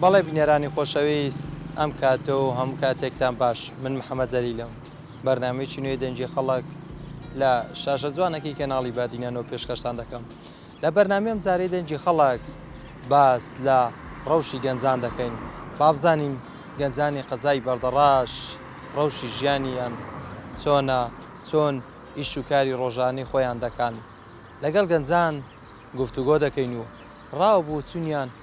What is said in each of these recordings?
بەڵێ بینەرانی خۆشەویست ئەم کاتە و هەموو کاتێکتان باش من محەمەد زەلیلم بەرنامەیەکی نوێی دەنگی خەڵک لە شاشە جوانەکەی کەناڵی بادینە نۆ پێشکەشتان دەکەم لە بەرنامی ئەم جارەی دەنگی خەڵک باس لە ڕەوشی گەنجان دەکەین بابزانین گەنجانی قەزای بەردەڕاش ڕەوشی ژیانیان چۆنە چۆن ئیش و کاری ڕۆژانی خۆیان دەکەن لەگەڵ گەنجان گفتوگۆ دەکەین و ڕاو بۆ چونیان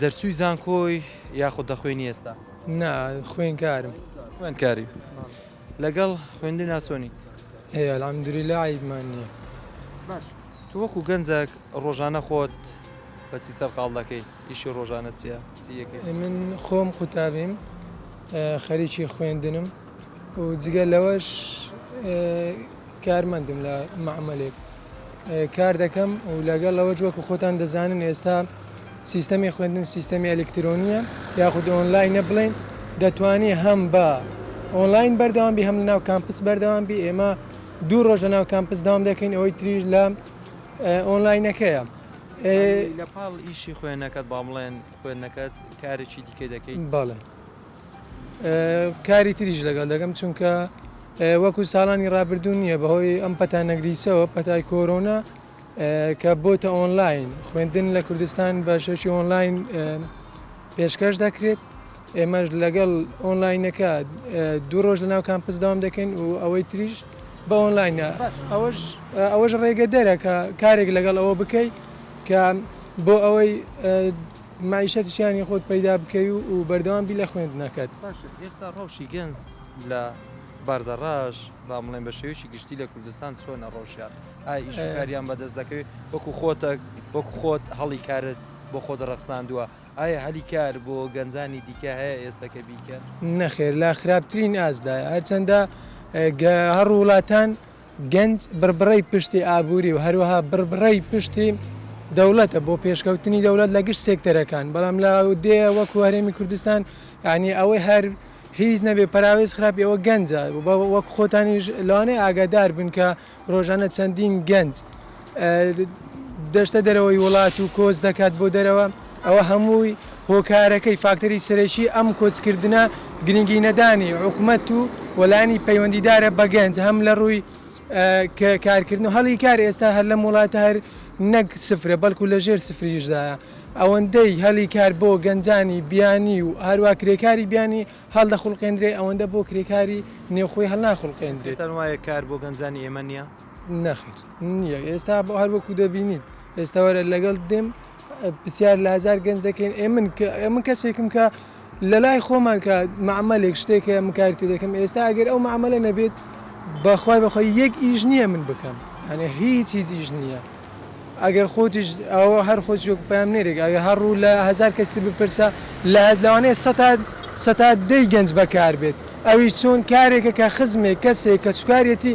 دەرچووی زانکۆی یاخود دەخوێنی ئێستا؟ نا خوێنکارم. خوێندکاری لەگەڵ خوێندنا چۆنیت؟ هەیە الحمدللە عەیبمان نییە. باش تۆ وەکو گەنجەک ڕۆژانە خۆت بە چی سەرقاڵ دەکەی؟ ئیشی ڕۆژانەت چییە؟ چی ئەکەی؟ من خۆم قوتابیم، خەریکی خوێندنم و جگە لەوەش کارمەندم لە مەعمەلێک. کار دەکەم و لەگەڵ ئەوەش وەکو خۆتان دەزانن ئێستا سیستەمی خوێندن سیستەمی ئەلیکترۆنیە یاخود ئۆنلاینە بڵێن دەتوانی هەم بە ئۆنلاین بەردەوام بی هەم لە ناو کامپس بەردەوام بی ئێمە دوو ڕۆژ لە ناو کامپس داوام دەکەین ئەوەی تریش لە ئۆنلاینەکەیە لە پاڵ ئیشی خوێنەکەت با بڵێن خوێندنەکەت کارێکی دیکە دەکەیت باڵێ کاری تریش لەگەڵ دەکەم چونکە وەکو ساڵانی ڕابردوو نییە بەهۆی ئەم پەتا نەگریسەوە پەتای کۆرۆنا کە بۆتە ئۆنلاین خوێندن لە کوردستان بە شێوکی ئۆنلاین پێشکەش دەکرێت ئێمەش لەگەڵ ئۆنلاینەکە دوو ڕۆژ لە ناو کامپس دام دەکەین و ئەوەی تریش بە ئۆنلاینە ئەوەش ئەوەش ڕێگە دەرەکە کارێک لەگەڵ ئەوە بکەیت کە بۆ ئەوەی مەعیشەتی ژیانی خۆت پەیدا بکەی و بەردەوام بی لە خوێندنەکەت. باشە ئێستا ڕەوشی گەنج لە باردەڕاش با بڵێن بە شێوەیەکی گشتی لە کوردستان چۆنە ڕەوشیان؟ ئایا ئیش و کاریان بەدەست دەکەوێت وەکو خۆتە وەکو خۆت هەڵی کارت بۆ خۆت ڕەخساندووە؟ ئایا هەلی کار بۆ گەنجانی دیکە هەیە ئێستا کە بیکەن؟ نەخێر لە خراپترین ئاستدایە هەرچەندە هەر وڵاتان. گەنج بڕبڕەی پشتی ئابووری و هەروەها بڕبڕەی پشتی دەوڵەتە بۆ پێشکەوتنی دەوڵەت لە گشت سێکتەرەکان، بەڵام لە ئەودێیە وەکو هەرێمی کوردستان یانی ئەوەی هەر هیچ نەبێ پەراوێز خراپی ئەوە گەنجە، وەکو خۆتانیش لەوانەیە ئاگادار بن کە ڕۆژانە چەندین گەنج، دەچتە دەرەوەی وڵات و کۆچ دەکات بۆ دەرەوە ئەوە هەمووی هۆکارەکەی فاکتەری سەرەکی ئەم کۆچکردە گرنگی نەدانی حکومەت و وەلانی پەیوەندیدارە بەگەنج هەم لە ڕووی کە کارکردن و هەڵی کار ئێستا هەر لەم وڵاتە هەر نەک سفرە بەڵکو لە ژێر سفریشدایە ئەوەندەی هەلی کار بۆ گەنجانی بیانی و هەروە کرێکاری بیانی هەڵدە خوڵقێندرێ ئەوەندە بۆ کرێکاری نێوخۆی هەڵناخڵقێندرێت وایە کار بۆ گەنجانی ئێمە نیە نەخیر نییە ئێستا بۆ هەر وەکو دەبینیت ئێستاوەرە لەگەڵ دێم پرسیار لە هزار گەنج دەکەین ئێ من من کەسێکم کە لە لای خۆمان کە معمەلێک شتێک هەیە من کارتی دەکەم ئێستا ئەگەر ئەو معمەلە نەبێت بەخوای بەخۆی یەک ئیش نییە من بکەم هەنێ هیچ هیچ ئیش نییە ئەگەر خۆتیش ئەوە هەر خۆ چۆک پام نێرێک ئەگە هەر ڕوو لە هزار کەستی بپرسە لە هەزلوانێ سەتات سەتا دەی گەنج بەکار بێت ئەوی چۆن کارێکە کە خزمێک کەسێک کە سوکارەتی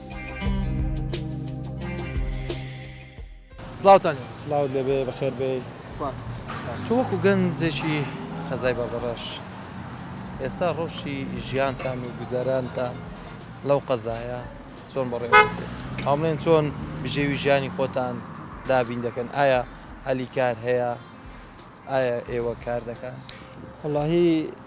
سڵاوتان لێبێ. سڵاوت لێبێ، بەخێر بێی. سوپاس. تۆ وەکوو گەنجێکی قەزای بەردەڕەش، ئێستا ڕەوشی ژیانتان و گوزەرانتان لەو قەزایە چۆن بەڕێوە دەچێت؟ ئەوا بڵێن چۆن بژێوی ژیانی خۆتان دابین دەکەن؟ ئایا هەلی کار هەیە؟ ئایا ئێوە کار دەکەن؟ وەڵاهی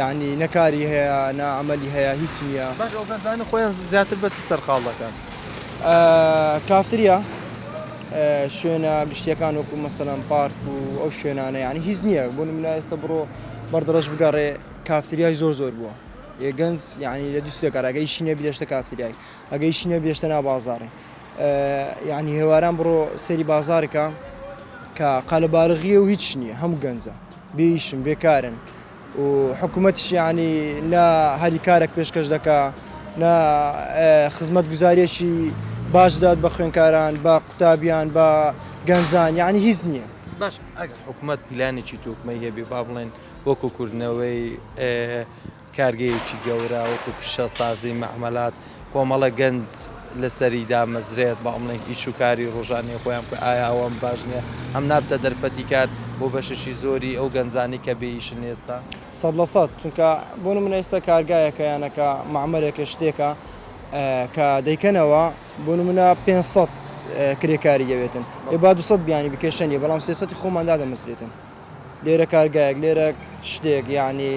یەعنی نە کاری هەیە نە عەمەلی هەیە هیچ نیە. باش ئەو گەنجانە خۆیان زیاتر بەچ سەرقاڵ دەکەن؟ کافتریا شوێنە گشتیەکان وەکو مەسەلەن پارک و ئەو شوێنانە یانی هیچ نییە بۆ نمونە ئێستا بڕۆ بەردەڕەش بگەڕێ کافتریای زۆر زۆر بووە یە گەنج یعنی لە دووسێ کارەگە ئیشی نەبی دەشتە کافتریای ئەگە ئیشی نەبی دەشتە نا بازاڕی یعنی هێواران بڕۆ سەری بازارکە کە قەلەبارغیە و هیچ نییە هەم گەنجە بێ ئیشن بێ کارن و حکوومەتیش یانی نە هەلی کارێک پێشکەش دەکا نە خزمەت گوزارێکی باش دەدات بە خوێنکاران بە قوتابیان بە گەنجان یعنی هیچ نییە باش ئەگەر حکوومەت پیلانێکی تۆکمەی هەبێ با بڵێن وەکو کردنەوەی کارگەیەکی گەورە وەکو پیشەسازی مەعمەلات کۆمەڵە گەنج لەسەری دامەزرێت بەڵێن ئیش و کاری ڕۆژانی خۆیان بکە ئایا ئەوەم باش نیە ئەم نابتە دەرفەتی کار بۆ بەشێکی زۆری ئەو گەنجانی کە بێ ئیشن ئێستا؟ سەد لە سەد چونکە بۆ نمونە ئێستا کارگایەکە یانەکە مەعمەلێکە شتێکە کە دەیکەنەوە بۆ نمونە پێنج سەد کرێکاری دەوێتن ئێ با دوو سەد بیانی بکێشە نیە بەڵام سێ سەدی خۆمان دادەمەزرێتن لێرە کارگایەک لێرە شتێک یانی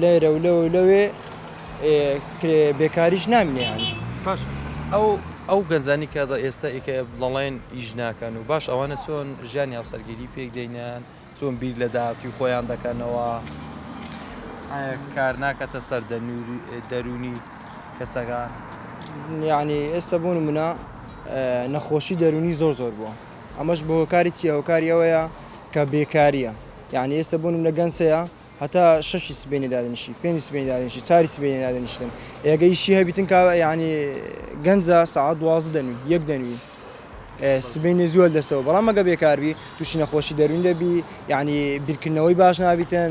لێرە و لەوە لەوێ بێکاریش نامینێ باش ئەو ئەو گەنجانی کە ئێستا ئیکە دەڵێن ئیش ناکەن و باش ئەوانە چۆن ژیانی هاوسەرگیری پێک دەینیان چۆن بیر لە داهاتوی خۆیان دەکەنەوە کار ناکاتە سەر دەرونی کەسەکان یعنی ئێستا بوون منە نەخۆشی دەرونی زۆر زۆر بووە ئەمەش بە هۆکاری چیە هۆکاری ئەوەیە کە بێکاریە یعنی ئێستا بۆ نمونە گەنج هەیە هەتا شەشی سبەینێ دادەنیشی پێنج سبەینێ دادەنیشی چواری سبەینێ دادەنیشتن ئێگە ئیشی هەبیتن کاوە یعنی گەنجە سەعات دوازدە دەنوی یەک دەنوی سبەینێ زووە دەستەوە بەڵام ئەگە بێکاربی تووشی نەخۆشی دەروین دەبی یعنی بیرکردنەوەی باش نابیتن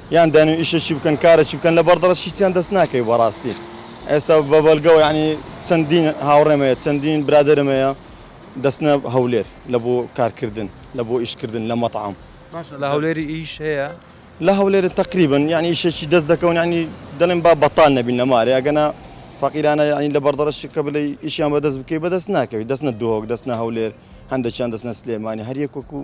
یان دەن و ئیشەکی بکەن کارەکی بکەن لە بەڕدەڕەکی هیچیان دەست ناکەوی بەڕاستی ئێستا بە بەڵگەوە یانی چەندین هاوڕێم هەیە چەندین برادەرم هەیە دەچنە هەولێر لە بۆ کارکردن لە بۆ ئیشکردن لە مەتعەم باشە لە هەولێری ئیش هەیە؟ لە هەولێرە تەقریبەن یانی ئیشەکی دەست دەکەون یانی دەڵێن با بەتال نەبین لە مارێ ئەگەنا فەقیرانە یانی لە بەڕدەڕەکی کە بلێی ئیشیان بەدەست بکەی بەدەست ناکەوی دەچنە دهۆک دەچنە هەولێر هەندەکیان دەچنە سلێمانی هەر یەک وەکوو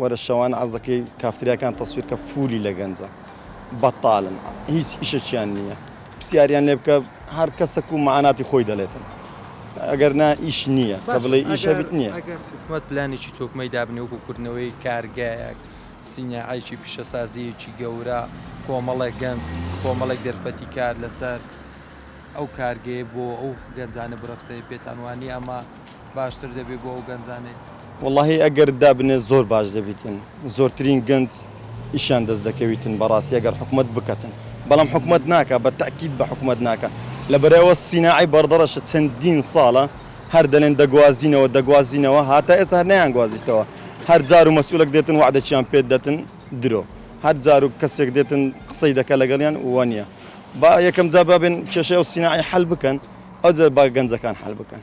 وەرە شەوانە عەز دەکەی کافتریاکان تەسویر کە فولی لە گەنجە بەتالن هیچ ئیشەکیان نییە پرسیاریان لێ بکە هەر کەسەک و مەعاناتی خۆی دەلێتن ئەگەر نا ئیش نییە کە بڵێ ئیش هەبیت نییە ئەگەر حکومەت پلانێکی تۆکمەی دابنێ وەکو کردنەوەی کارگایەک سیناعەیەکی پیشەسازیەکی گەورە کۆمەڵێک گەنج کۆمەڵێک دەرفەتی کار لەسەر ئەو کارگەیە بۆ ئەو گەنجانە برەخسێنی پێتان وانییە ئەمە باشتر دەبێ بۆ ئەو گەنجانەی. وەڵاهی ئەگەر دابنێ زۆر باش دەبیتن زۆرترین گەنج ئیشیان دەست دەکەویتن بەڕاستی ئەگەر حکومەت بکەتن بەڵام حکومەت ناکا بە تەئکید بە حکومەت ناکا لەبەرای ئەوە سیناعی بەڕدەڕەشە چەندین ساڵە هەر دەلێن دەگوازینەوە دەگوازینەوە هاتا ئێستا هەر نەیان گوازیتەوە هەر جارو مەسئولەک دێتن وەعدەکیان پێ دەتن درۆ هەر جارو کەسێک دێتن قسەی دەکا لەگەڵیان وەنیە با یەکەم جا بابێن کێشەی ئەو سیناعی حەل بکەن ئەوجە با گەنجەکان حەل بکەن.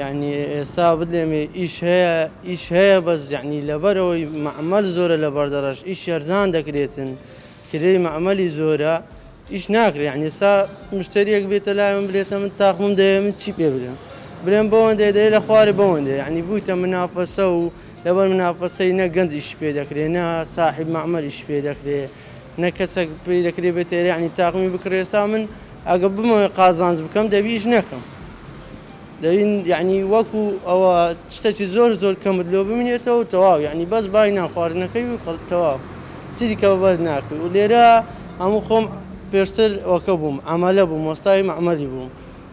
یەعنی ئێستا بلێمێ ئیش هەیە ئیش هەیە بەس یەعنی لەبەرەوەی مەعمەل زۆرە لە بەردەڕەش ئیش یەرزان دەکرێتن کرێی مەعمەلی زۆرە ئیش ناکرێ یەعنی ئێستا مشتەریەک بێتە لای من بلێتە من تاقمم دەیە من چی پێ بلێم بلێم بەوەندەیە دەیە لە خوارێ بەوەندەیە یەعنی بوویتە منافەسە و لەبەر منافەسەی نە گەنج ئیش پێ دەکرێ نە ساحێب مەعمەل ئیش پێ دەکرێ نە کەسەک پێی دەکرێ بێتە ئێرە یەعنی تاقمی بکڕێ ئێستا من ئەگەر بمەوێ قازانج بکەم دەبی ئیش نەکەم دەبی یعنی وەکو ئەوە شتەکی زۆر زۆر کەمت لۆ بمینێتەوە تەواو یعنی بەس بای نانخواردنەکەی و خەڵ تەواو چی دیکە بەر ناکەی و لێرە هەموو خۆم پێشتر ئەوکە بووم ئەمەلە بووم وەستای مەعمەلی بووم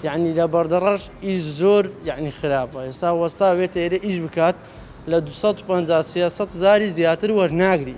یعنی لە بەردەڕەش ئیش زۆر یعنی خراپە ئێستا وەستا بێتە ئێرە ئیش بکات لە 250 300 زاری زیاتر وەرناگری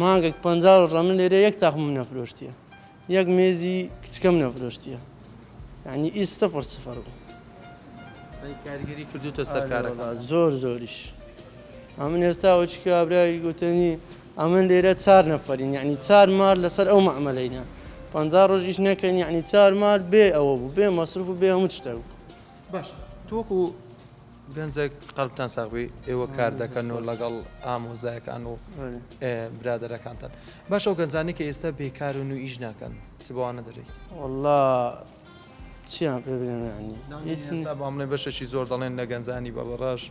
مانگەک پەنجا ڕۆژ ئەمن لێرە یەک تاقمم نەفرۆشتیە یەک مێزی کچکەم نەفرۆشتیە یعنی ئیس سفر سفر بوو کاریگەری کردوتە سەرکارەکە زۆر زۆریش ئەمن ئێستا وچ کابراوی گوتنی ئەمن لێرە چار نەفرین یعنی چار مار لەسەر ئەو مەعملینە پ ڕۆژیش نەکەین یعنی چار مار بێ ئەوە بوو بێ مەصرف و بێ هەموو شتە بوو باش تۆکو گەنجەک قەلبتان ساغبی ئێوە کار دەکەن و لەگەڵ ئامۆزایەکان و برادەرەکانتان باش ئەو گەنجانی کە ئێستا بێکارن و ئیش ناکەن چ بەوانە دەرێت والله چیان پێ بڵێ بەشەشی زۆر دەڵێن لە گەنجانی بە بەڕاش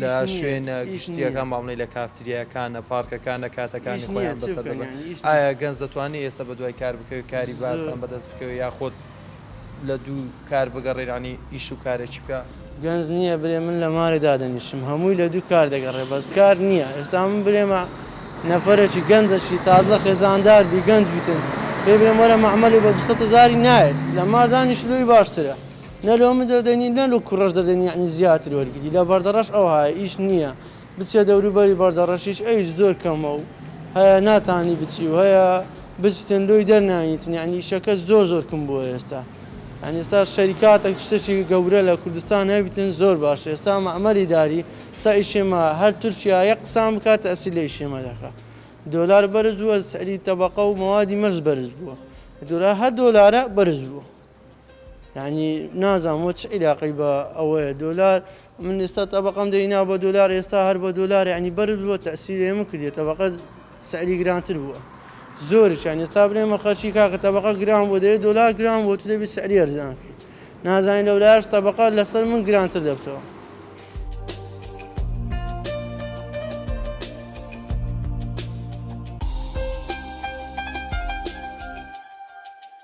لە شوێنە گشتیەکان ماملەی لە کافتریاکانە پارکەکانە کاتەکانی خۆیان بەسەر ئایا گەنج دەتوانانی ئێستا بە دوای کار بکەوی کاری باسان بەدەست بکەوی یاخۆت لە دوو کار بگەڕێ یانی ئیش و کارێکی بکە. گەنج نییە برێ من لە مارێ دادەنیشم هەمووی لە دوو کار دەگەڕێ بەس کار نییە ئێستا من برێمە نەفەرێکی گەنجەکی تازە خێزاندار بی گەنج بیتن پێ برێم وەرە مەعمەلێ بە دوو سەد هەزاری نایەت لە مار دانیش لۆی باشترە نە لۆ من دەردەنی نە لۆ کوڕەش دەردەنی یانی زیاتر وەرگری لە بەردەڕەش ئەوهایە ئیش نییە بچیە دەوروبەری بەردەڕەشیش ئەویش زۆر کەمە و هەیە ناتانی بچی و هەیە بچتن لۆی دەرناییتن یەعنی ئیشەکە زۆر زۆر کم بووە ئێستا یەعنی ئێستا شەریکاتەک شتەکی گەورە لە کوردستان هەبیتن زۆر باشە ئێستا مەعمەر ئیداری سا ئیشێ ما هەر تورکیا یەک قسان بکا تەئسیر لە ئیشێ مە دەکا دۆلار بەرز بووە سعری تەبەقە و مەوادی مەرز بەرز بووە دۆلار هەر دۆلارە بەرز بووە. یانی نازانم وە چ عیلاقەی بە ئەوەیە دۆلار من ئێستا تەبقەم دەینا بە دۆلار ئێستا هەر بە دۆلار ینی بەرز بووە تەسیری ئێمە کردێت تەبقە سعری گرانتر بووە زۆرشان ئێستا بنێمە خەرچی کاکە تەبقە گران بۆ دەیە دۆلار گران بۆ تو دەبی سعری ئەرزانکەی نازانین لەولاش تەبقە لەسەر من گرانتر دەبتەوە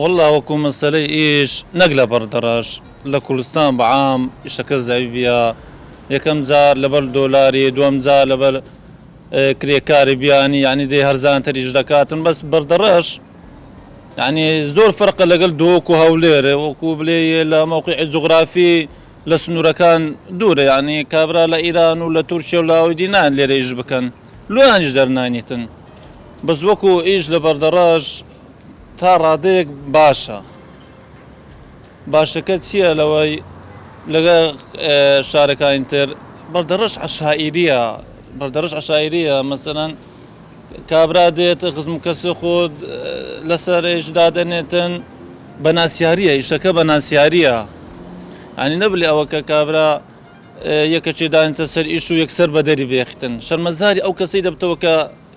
وەللە وەکو مەسەلەی ئیش نەک لە بەر دەڕەش لە کوردستان بە عام ئیشەکە زەعیڤیە یەکەم جار لە بەر دۆلاری دوەم جار لە بەر کرێکاری بیانی یانی دەی هەرزانتر ئیش دەکاتن بەس بەردەڕەش یانی زۆر فەرقە لەگەل دۆک و هەولێر وەکو بلێ لە مەوقعی جوغرافی لە سنورەکان دورە یانی کابرا لە ئیران و لە تورکیە و لاوەی دی نایەن لێرە ئیش بکەن لۆیانیش دەرناینیتن بەس وەکو ئیش لە بەردەڕەش تا ڕادەیەک باشە باشەکە چییە لەوەی لەگە شارەکانی تر بەردەڕەش عشائیریە بەردەڕش عشائیریە مەسەەن کابرا دێت خزم کەسی خۆت لەسەر ئێش دادەنێتن بە ناسیاریە ئیشەکە بە ناسیاریە ئەنی نەبلی ئەوە کە کابرا یەکەچێدانتە سەر ئیش و یەکسەر بەدەری بێختن شەرمەزاری ئەو کەسی دەبتەوە کە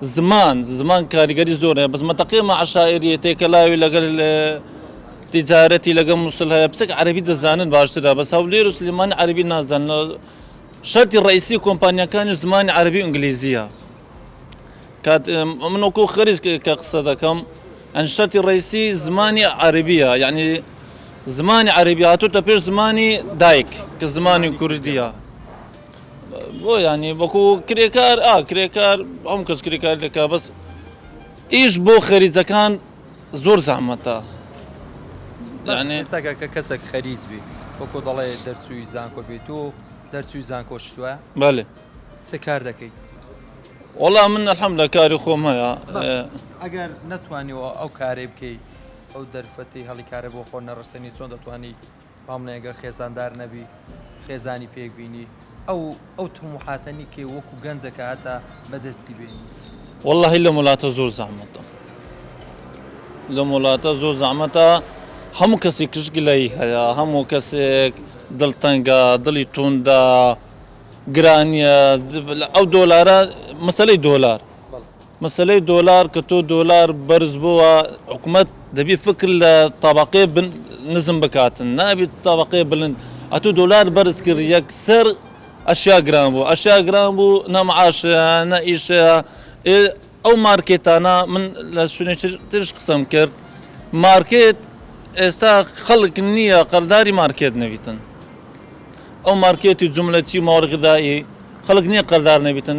زمان، زمان کاریگەری زۆر هەیە بەس مەتەقی ئەمە عەشایریە تێکەلاوی لەگەل تیجارەتی لەگەل موسل هەیە بچێک عەرەبی دەزانن باشترە بەس هەولێر و سلیمانی عەرەبی نازانن شەرتی ڕئیسی کۆمپانیەکانی زمانی عەرەبی و ئنگلیزیە کات من وەکو خەریج کە قسە دەکەم ئەن شەرتی ڕئیسی زمانی عەرەبیە یعنی زمانی عەرەبی هاتوتە پێش زمانی دایک کە زمانی کوردیە بۆیانی وەکو کرێکار ئا کرێکار ئەم کەس کرێکار دەکا بەس ئیش بۆ خەریجەکان زۆر زەحمەتە یانێ ساکە کە کەسێک خەریج بی وەکو دەڵێ دەرچووی زانکۆ بیت و دەرچووی زانکۆ شتوە بەێ چ کار دەکەیت وەڵا من ئەحەم لە کاری خۆم هەیە ئەگەر نەتوانیەوە ئەو کارەی بکەیت ئەو دەرفەتی هەڵی کارە بۆ خۆ نەڕسێنی چۆن دەتوانانی بەڵام نە گە خێزاندار نەبی خێزانی پێک بینی ئەو ئەو تموحاتە نیکێ وەکو گەنجە کە هەتا بەدەستی بێنی. وەڵاهی لەم وڵاتە زۆر زەحمەتە لەم وڵاتە زۆر زەحمەتە هەموو کەسێک کشگلەی هەیە هەموو کەسێک دڵتەنگە دڵی توندە گرانیە ئەو دۆلارە مەسلەی دۆلار مەسەلەی دۆلار کە تۆ دۆلار بەرز بۆوە حکومەت دەبی فکر لە تابقێ نزم بکاتن نابیت تابقێ بلند ئەتو دۆلار بەرز کرد یەکسەر ئەشیا گران بوو ئەشیا گران بوو نەمعاشەیە نە ئیشەیە ئەو مارکێتانە من لە شوێنێ ترش قسەم کرد مارکێت ئێستا خەڵک نییە قەرداری مارکێت نەبیتن ئەو مارکێتی جملەتی ماوەڕگدایی خەڵک نییە قەردار نەبیتن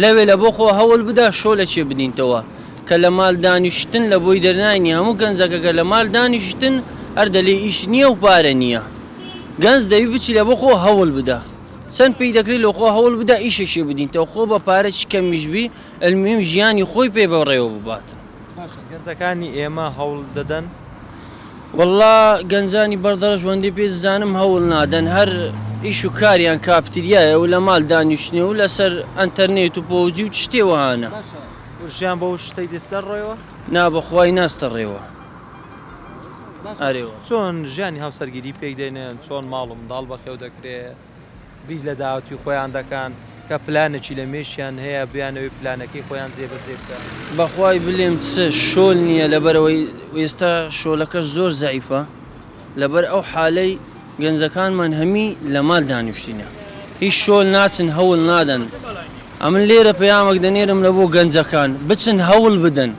لەوێ لە بۆ خۆ هەول بدە شۆ لە چێ بدینتەوە کە لە مال دانیشتن لە بۆی دەرناینی هەموو گەنجەکە کە لە مال دانیشتن هەر دەلێ ئیش نیە و پارە نیە گەنج دەوی بچی لە بۆ خۆ هەول بدە چەن پێی دەکری لۆ خۆ هەول بدە ئیشەکی بدینتەوە خۆ بە پارە چ کەمیش بی المویم ژیانی خۆی پێ بە ڕێوە ببات. باشە گەنجەکانی ئێمە هەوڵ دەدەن؟ وەڵڵا گەنجانی بەڕدەڕەش وەندەی پێ دزانم هەوڵ نادەن هەر ئیش و کاریان کافتریایە و لە ماڵ دانیشتنێ و لەسەر ئەنتەرنێت و پۆبجی و چ شتێ وەهانە. باشە ژیان بەو شتەی دەستە ڕێوە؟ نا بەخوای ناستە ڕێوە. باشە چۆن ژیانی هاوسەرگیری پێک دێنن چۆن ماڵ و منداڵ بەخێو دەکرێ؟ بیر لە داهاتووی خۆیان دەکان کە پلانێکی لە مێشکیان هەیە بیانەوێت پلانەکەی خۆیان جێبەجێ بکەن. بەخوای بلێم چ شۆل نیە لەبەرئەوەی ئێستا شۆلەکەش زۆر زەعیفە لەبەر ئەو حالەی گەنجەکانمان هەمی لە مال دانیشتینە هیچ شۆل ناچن هەول نادەن ئەمن لێرە پەیامەک دەنێرم لەبۆ گەنجەکان بچن هەول بدەن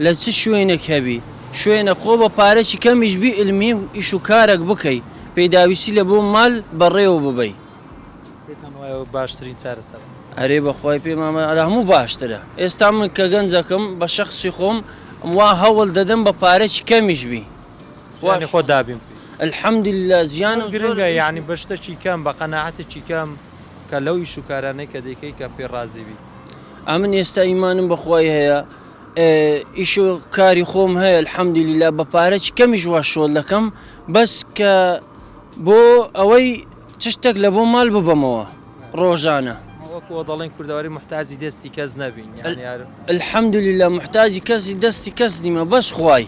لە چ شوێنێک هەبی شوێنە خۆ بە پارەکی کەمیش بی علمی و ئیش و کارەک بکەی پیداویستی لە بۆ مال بە ڕێوە ببەی. پێتان وایە ئەوە باشترین چارەسەرە؟ ئەرێ بەخوای پێم ئەمە لە هەموو باشترە ئێستا من کە گەنجەکم بە شەخسی خۆم وا هەوڵ دەدەم بە پارەکی کەمیش بی ژیانی خۆ دابین بکەی الحمدللە ژیانم زۆر گرنگە یانی بە شتەکی کەم بە قەناعەتەکی کەم کە لەو ئیش و کارانەی کە دەیکەی کە پێ ڕازی بیت. ئەمن ئێستا ئیمانم بەخوای هەیە. ئیشو کاری خۆم هەیە الحمدللە بە پارە چ کەمیش وا شۆل دەکەم بەس کە بۆ ئەوەی چ شتێک لە بۆ مال ببەمەوە ڕۆژانە وەکو دەڵێن کوردەواری محتاجی دەستی کەس نەبین یان یار الحمدللە محتاجی کەسی دەستی کەس نیمە بەس خوای.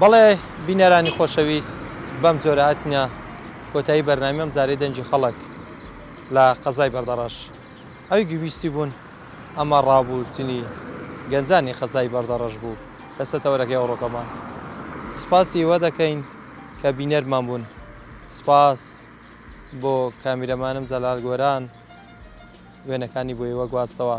بەڵێ بینەرانی خۆشەویست بەم جۆرە هاتنە کۆتایی بەرنامی ئەم جارەی دەنگی خەڵک لە قەزای بەردەڕەش ئەوی گویستی بوون ئەمە ڕابوو چنی گەنجانی قەزای بەردەڕەش بوو لە سەتەوەرەکەی ئەوڕۆکەمان سپاسی ئێوە دەکەین کە بینەرمان بوون سپاس بۆ کامیرەمانم جەلال گۆران وێنەکانی بۆ ئێوە گواستەوە